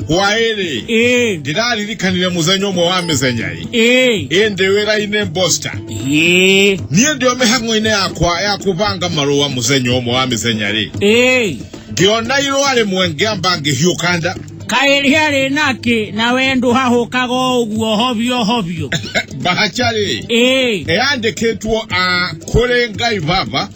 hwaere ee ndiraririkanire muthenya umwe wa mithenya-i ee ĩndĩ wĩra-inĩ mbosta ee niĩ ndĩ o mĩhang'o-inĩ yakwa ya kũbanga marũa mũthenya ũmwe wa mĩthenya-rĩ ee ngĩona irũa rĩmwe ngĩamba ngĩhiũka nda kaĩ rĩarĩ nakĩ na we ndũhahũkaga o ũguo hobio hobio bahaca-rĩ ee yandĩkĩtwo a kũrĩ ngai baba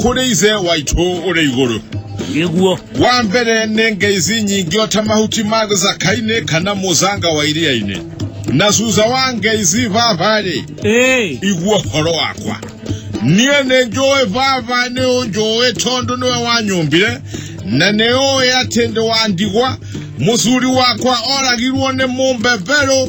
kũrĩ ithe waitũ ũrĩ igũrũ nĩguo wa mbere nĩ ngai ici nyingĩ o ta mahuti ma gĩcaka-inĩ kana mũcanga wa iria-inĩ na cuca wa ngai ici baba-rĩ Ĩĩ. igua ũhoro wakwa niĩ nĩ njũĩ baba nĩ ũnjũĩ tondũ nĩwe wanyũmbire na nĩ ũĩ atĩ ndĩ wa ndigwa mũcuri wakwa oragirwo nĩ mũmbeberũ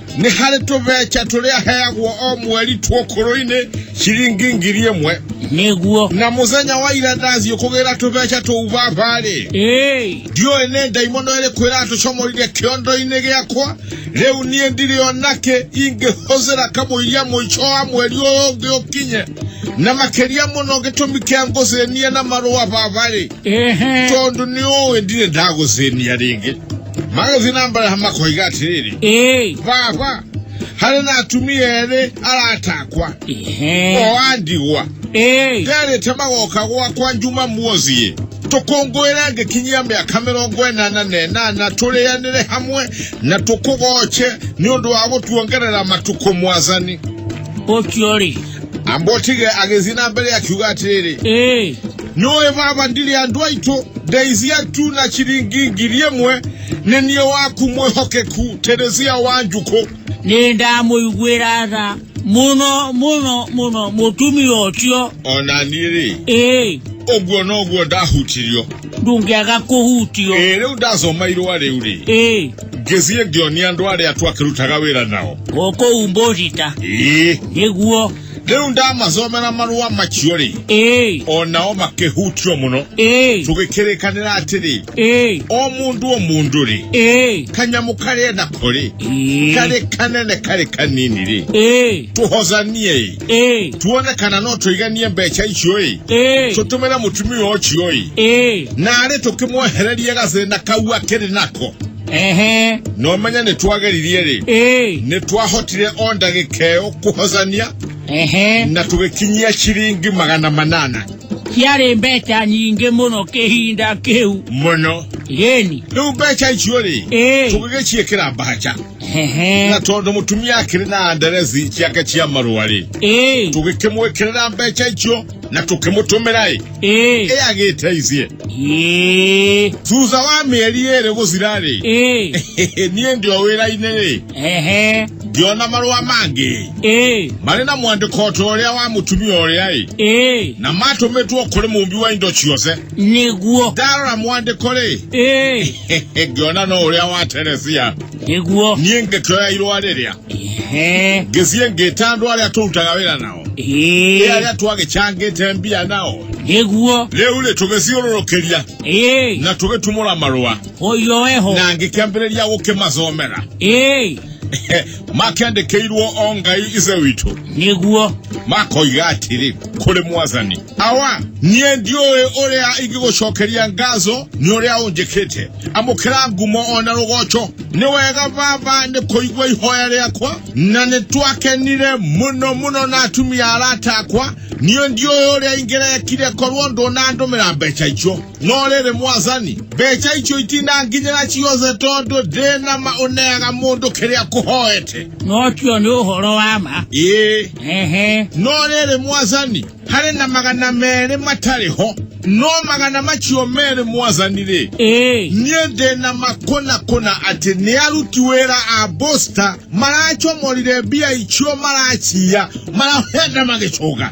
nĩ harĩ tũbeca tũrĩa heagwo o mweri tuokũrũ-inĩ ciringi ngiri ĩmwe nĩguo na mũthenya wa ira ndathiĩ kũgĩra tũbeca tũu baba-rĩ ndiũĩ nĩ ndaimono ĩrĩkũ ĩratũcomorire kĩondo-inĩ gĩakwa rĩu niĩ ndirĩ onakĩ ingĩhũthĩra kamũiria mũico wa mweri ũyũ ũngĩ ũkinye na makĩria mũno gĩtũmi kĩa ngũthĩnie na marũa baba-rĩ ehe tondo niyowe ndine ndakuzeni yaringe magazini ambala hamakoiga atiriri ee vava hari natumie ere aratakwa ehe oandigwa ee nderete magoka gwakwa njuma muozie tũkũngũĩre ngĩkinyia mĩaka mĩrongo ĩnana na ĩnana tũrĩanĩre hamwe na tũkũgoce nĩ ũndũ wa gũtuongerera matukũ mwathani ũcio rĩ ambotige agĩthiĩ na mbere akiuga atĩrĩrĩ ĩĩ nĩũĩ baba ndirĩ andũ aitũ ndeithia tu na ciringi ngiri ĩmwe nĩ niĩ waku mwĩhokeku teresia wa njukũ nĩ ndamũiguĩra tha mũno mũno mũno mũtumia ũcio ona niĩ rĩ ĩĩ ũguo noguo ndahutirio ndũngĩaga kũhutio ĩ rĩu ndasoma irũa rĩu rĩ ĩĩ ngĩthiĩ ngĩonia andũ arĩa twakĩrutaga wĩra nao gũkũ umbũrita ĩĩ nĩguo rĩu ndamacomera marũa macio rĩ ĩĩ o nao makĩhutio mũno ĩĩ tũgĩkĩrĩkanĩra atĩrĩ ĩĩ o mũndũ o mũndũ rĩ ĩĩ kanyamũ karĩa nako rĩ ĩĩ karĩ kanene karĩ kanini rĩ ĩĩ tũhozanie ĩ ĩĩ tuone kana no tũiganie mbeca icio ĩ ĩĩ tũtũmĩre mũtumia ũcio ĩ ĩĩ narĩ tũkĩmwehererie gathĩna kau akĩrĩ nako ehe no menye nĩ twageririe rĩ ĩĩ nĩ twahotire o ndagĩka ĩyo kũhocania ehe na tũgĩkinyia ciringi magana manana ciarĩ mbeca nyingĩ mũno kĩhinda kĩu mũno yeni rĩu mbeca icio rĩ ĩĩ tũgĩgĩciĩkĩra mbaca Ehe. na tondu mutumia akiri na anderesi ciake cia marua ri Ĩĩ. tugikimwikirira mbeca icio na tukimutumira i Ĩĩ. i agiteithie Ĩĩ. thutha wa mieri iri guthira ri Ĩĩ. niĩ ndio wĩra-inĩ rĩ Ehe. ngĩona marũa mangĩ Ĩĩ. marĩ na mwandĩko ta ũrĩa wa mũtumia ũrĩa ĩ Ĩĩ. na matũmĩtwo kũrĩ mũmbi wa indo ciothe Nĩguo. ndarora mwandĩko rĩ Ĩĩ. ngĩona no ũrĩa wa teresia nĩguo niĩ ngĩkĩoya irũa rĩrĩa Ehe. ngĩthiĩ ngĩta andũ arĩa tũrutaga wĩra nao Ĩĩ. ĩ arĩa twagĩcangĩte mbia nao nĩguo rĩu rĩ tũgĩthiũrũrũkĩria Ĩĩ. na tũgĩtumũra marũa ũyũ weho na ngĩkĩambĩrĩria gũkĩmacomera Ĩĩ. makĩandĩkĩirwo o ngai ithe witũ nĩguo makoiga atĩrĩ kũrĩ mwathani awa niĩ ndiũĩ ũrĩa ingĩgũcokeria ngazo nĩ ũrĩa ũnjĩkĩte amũkĩra ngumo o na rũgoco nĩ wega baba nĩ kũigua ihoya rĩakwa na nĩ twakenire mũno mũno na atumia arata akwa niĩ ndiũĩ ũrĩa ingĩrekire korwo ndũnandũmĩra mbeca icio nolele mwathani mbeca icio itinanginyĩra ciothe tondũ ndĩna ma ũneaga mũndũ kĩrĩa kũhoete no cio nĩ ũhoro wa ma ĩĩ ehe no rĩrĩ mwathani harĩ na magana merĩ matarĩ ho no magana macio merĩ mwathani rĩ ĩĩ niĩ ndĩna makũna kũna atĩ nĩ aruti wĩra a bosta maracomorire mbia icio maraciya marahenda magĩcũga